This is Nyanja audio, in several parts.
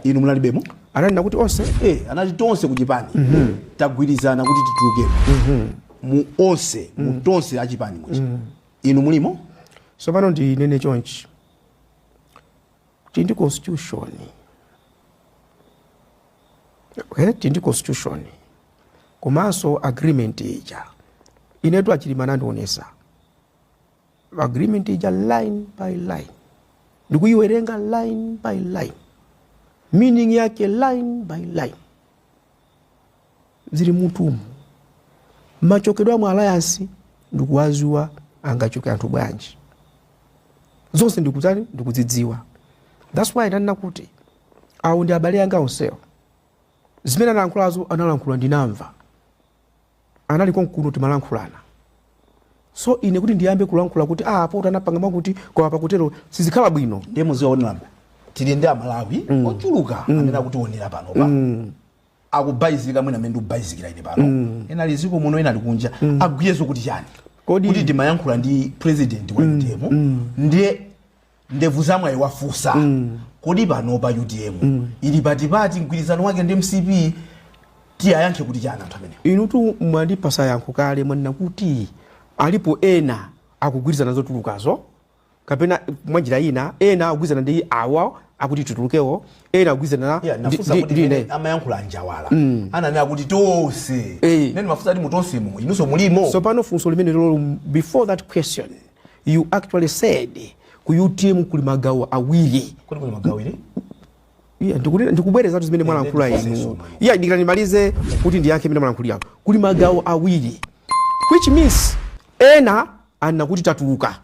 inu munalibemo analinena kuti onse eh, anati tonse kuchipani mhm. tagwirizana kuti tituluke mhm. mu onse mu mhm. tonse achipani muchi inu mulimo tsopano ndinene chonchi kuti tili ndi constitution okay? tili ndi constitution komanso agreement ija inetu achilima anandionesa agreement ija line by line ndikuyiwerenga line by line meaning yake line by line zili m'mutumu machokedwe a mu alliance ndikuwadziwa angachoke anthu bwanji zonse ndikutani ndikuzidziwa thats why ndanena kuti awo ndi abale anga onsewo zimene analankhulazo analankhula ndinamva anali konkuno timalankhulana so ine kuti ndiyambe kulankhula kuti ah apoto anapanga mwakuti koma pakutero sizikhala bwino ndiye muziwaonera tili ndi amalawi mm. ochuluka mm. amene akutiwonera panopa mm. akubalalika mwina mmene ndikubalalikira ine pano mm. ena ali mdziko muno ena ali kunja mm. agwirezo kuti chani Kodi- kuti timayankhula ndi president wa utm ndiye ndevu za mwayi wafusa mm. kodi pano pa utm mm. ili patipati mgwirizano wake ndi mcp tiwayankhe kuti chani anthu amene inutu mwandipasa yankho kale mwanena kuti alipo ena akugwirizana zotulukazo kapena mwanjira ina ena akugwirizana ndi awa akuti titulukewo ena akugwirizana Yeah, ndi- nafunsa ndi- kuti ndi mene ine. amayankhula anjawala mm. ananena kuti tonse Eh. nde ndimafunsa ati mutonsemo inunso mulimo tsopano funso limenelolo before that question You actually said ku utm kuli magawo awiri kuli kuli magawo awiri Yeah, ndikunena ndikubwerezatu zimene mwalankhula inu iya dikira ndimalize kuti ndiyankhe imene mwalankhulira kuli magawo awiri which means ena anena kuti tatuluka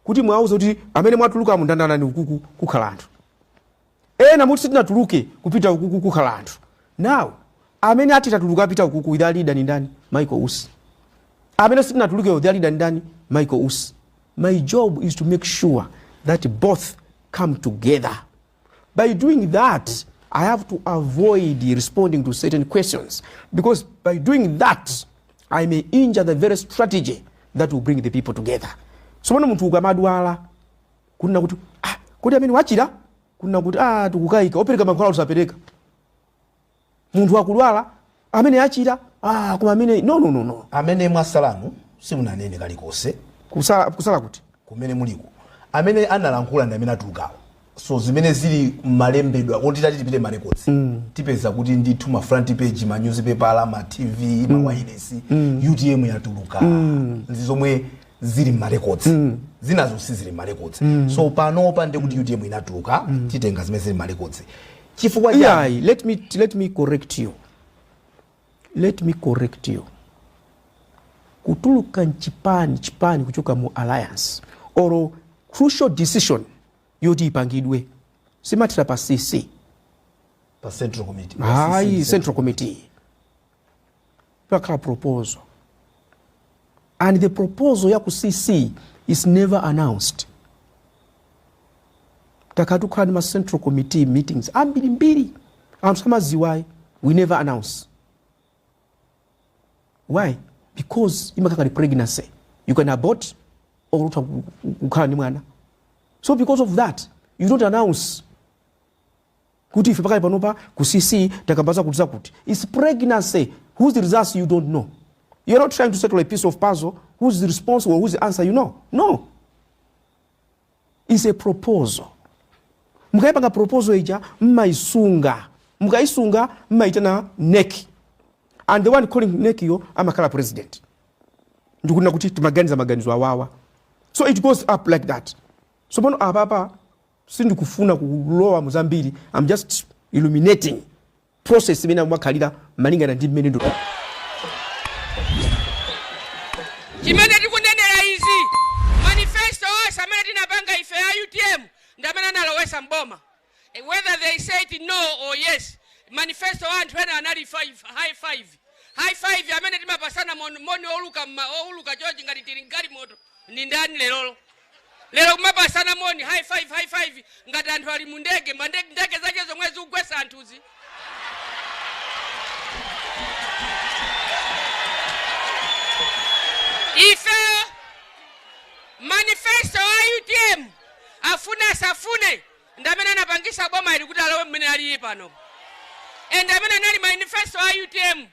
kuti mwauza kuti amene mwatuluka mundandane ukuku kukhala anthu ena muti sitinatuluke kupita ukuku kukhala anthu now amene ati tatuluka apita ukuku their leader ni ndani Michael Usi amene sitinatulukewo their leader ni ndani Michael Usi my job is to make sure that both come together by doing that I have to avoid responding to certain questions because by doing that I may injure the very strategy that will bring the people together so pano munthu ukamadwala kunena kuti ah, kodi amene wachira kunena kuti ah, tikukayika opereka mankhwala osapereka munthu akulwala amene achira ah, koma amene no, no, no, no. amene mwatsalamu simunanene kalikonse kutsala, kutsala kuti kumene muliko amene analankhula ndi amene atulukawo so zimene zili mmalembedwa kuti titati tipite mma records mm. tipeza kuti ndithu ma front page ma newspaper ma tv mm. ma wireless mm. utm yatuluka mm. zomwe zili mmarecords mm. zinazozo sizili mmarecords mm. so panopa ndi kuti utm inatuluka mm. titenga zimene zili mmarecords chifukwa yeah, let me let me correct you let me correct you kutuluka nchipani chipani kuchoka mu alliance or crucial decision yoti ipangidwe siyimathera pa cc pa central committee ayi central committee Pakhala proposal and the proposal ya ku CC is never announced. Takhala tikukhala ndi ma central committee meetings ambirimbiri anthu samaziwa ayi we never announce. Why? Because imakhala ngati pregnancy you can abort or utha ku- ku- kukhala ndi mwana. So because of that you don't announce kuti ife pakali panopa ku cc takamba zakuti zakuti its pregnancy whose results you don't know you're not trying to settle a piece of puzzle whose response or whose answer you know no it's a proposal mukayipanga proposal ija mmayisunga mukayisunga mmayitana NEC and the one calling NEC yo amakhala president ndi kunena kuti timaganiza maganizo awawa so it goes up like that so pano apapa sindikufuna kulowa mu zambiri am just illuminating process imene imakhalira malingana ndi mmene nde chimene tikunenera izi manifesto wonse amene tinapanga ife a utm ndi amene analowesa mboma Eh, whether they say it no or yes manifesto wa anthu ena anali five, high five high five amene tikupasana mon- moni oluka mma- oluka chochi ngati tili mgalimoto ndi ndani lerolo Lero kumapasana moni high five high five ngati anthu ali mu ndege ma ndege ndege zake zomwe zikugwetsa anthuzi. Ifeyo manifesto a UTM afune asafune ndi amene anapangisa boma ili kuti lilowe mmene alili pano and amene anali manifesto a UTM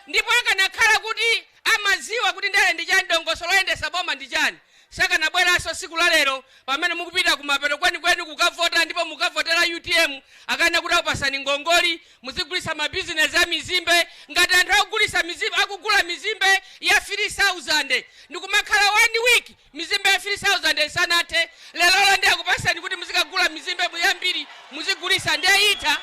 Ndipo akanakhala kuti amadziwa kuti ndale ndi chani dongosolo loyendesa boma ndi chani sakanabweranso siku la lero pamene mukupita kumapeto kwenikweni kukavota ndipo mukukavotera utm akunena kuti akupasani ngongole muzigulitsa ma business a mizimbe ngati anthu akugulitsa mizimbe akugula mizimbe ya 3000 ndikumakhala one week Mizimbe ya 3000 isanathe lerolo ndiye akupaseni kuti muzikagula mizimbe yambiri muzigulitsa ndiye itha?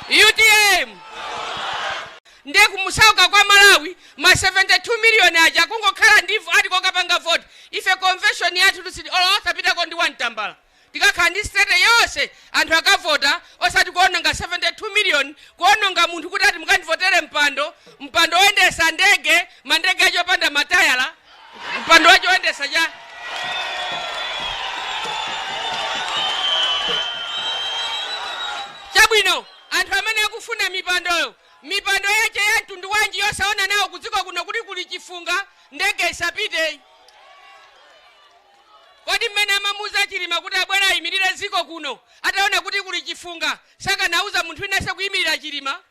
Utm ndiye kumusawutsa kwa Malawi ma 72 million aja kungokhala ndivu ati kukapanga vote ife convention yathu tusidi olo osapitako ndi 1 tambala. Tikakhala ndi state yonse anthu akavota osati kuononga 72 million kuononga munthu kuti ati mukandivotere mpando, mpando oyendesa ndege, ma ndege aja opanda matayala, mpando wake oyendetsa chani. Chabwino anthu amene akufuna mipandoyo, mipando yache ya mtundu wanji yosaona nawo kudziko kuno kuti kuli chifunga ndege isapite? Kodi mmene amamuuza Chilima kuti abwere ayimilire dziko kuno ataona kuti kuli chifunga sakanauza munthu winanso kuyimilira Chilima?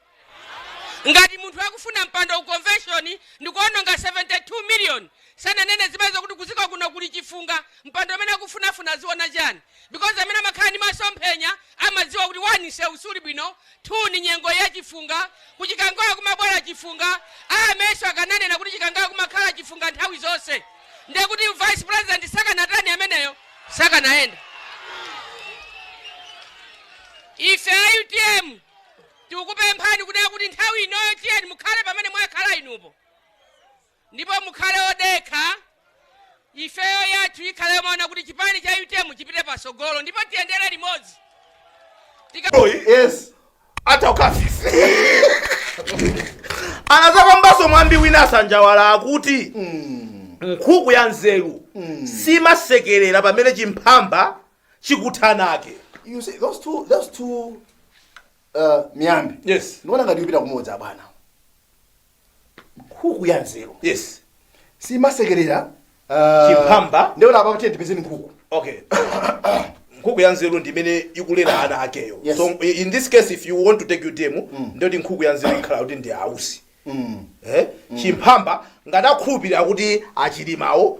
Ngati munthu akufuna mpando ku convention ndikuononga 72 million sananene zimenezo kuti kudziko kuno kuli chifunga mpando umene akufunafuna aziona chani because amene amakhala ndi maso omphenya amadziwa kuti 1 nsewu suli bwino 2 ndi nyengo ya chifunga. Ku chikangawa kumabwera chifunga. A MetSo akananena kuti chikangawa kumakhala chifunga nthawi zonse ndiye kuti vice president sakanatani ameneyo? Sakanayenda. Ife a utm tikukupemphani kunena kuti nthawi inoyo tiyeni mukhale pamene mwakhala inupo. ndipo mukhale odekha ifeyo yathu ikhale yomaona kuti chipani cha utm chipite patsogolo ndipo tiyendere limodzi Tika... yes atha ukafisi anadzaphambanso mwambi wina asanjawala akuti nkhuku ya nzeru simasekerera pamene chimphamba chikutha ana ake you see those two those two uh, miyambi yes ndikuona ngati ikupita kumodzi abwana nkhuku ya nzeru yes simasekerera ah, chimphamba. ndiye apa kuti tipeze nkhuku okay nkhuku ya nzeru ndi imene ikulera ana akeyo Yes. so i- in this case if you want to take your demo ndiyoti nkhuku ya nzeru ikhala kuti ndi a Usi eh? chimphamba ngati akhulupirira kuti a Chilimawo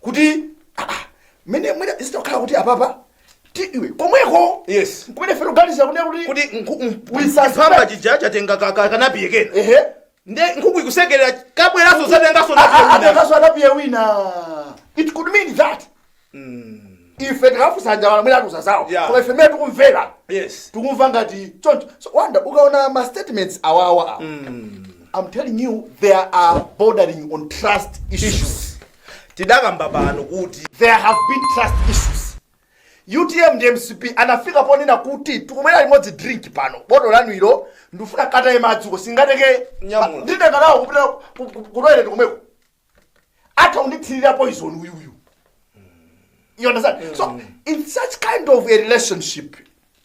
kuti ah, ah, mene mwina zikukhala kuti apapa ti iwe komweko yes kumene fero ganiza kunena kuti kuti nkhu- m- We suspect. chiphamba chija chatenga ka- ka- kanapiye kena ehe nde nkhuku ikusekerera chabweranso chatenganso Ah, ah, napiye chatenganso anapiye wina it could mean that ife tikafunsa Njala mwina atiuza zawo Yeah. koma ife mene tikumvera yes tikumva ngati choncho so wanda ukaona ma statements awawa awa i'm telling you there are bordering on trust issues Tidakamba pano kuti there have been trust issues. Utm ndi mcp anafika ponena kuti tikumwera limodzi drink pano, bottle lanu ilo ndifuna nkataye madzi uko sindingatenge Nyamula. nditenga nawo kupita ku- ku- ku toilet komweko. Atha kundithirira poison uyu uyu. You understand? So, in such kind of a relationship,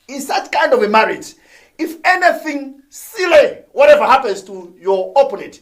in such kind of a marriage, if anything silly, whatever happens to your opponent,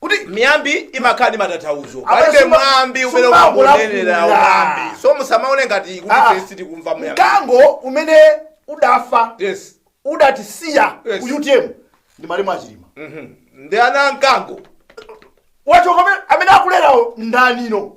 kuti miyambi imakhala ndi matanthauzo Apa palibe suma- mwambi umene sumakulakula. umangonenera mwambi so musamaone ngati kuti Ah. tesi tikumva mwambi mkango umene udafa yes udatisiya Yes. ku utm ndi malemu achilima Mhm. ndi ana a mkango wachoka amene- amene akulerawo ndi inuyo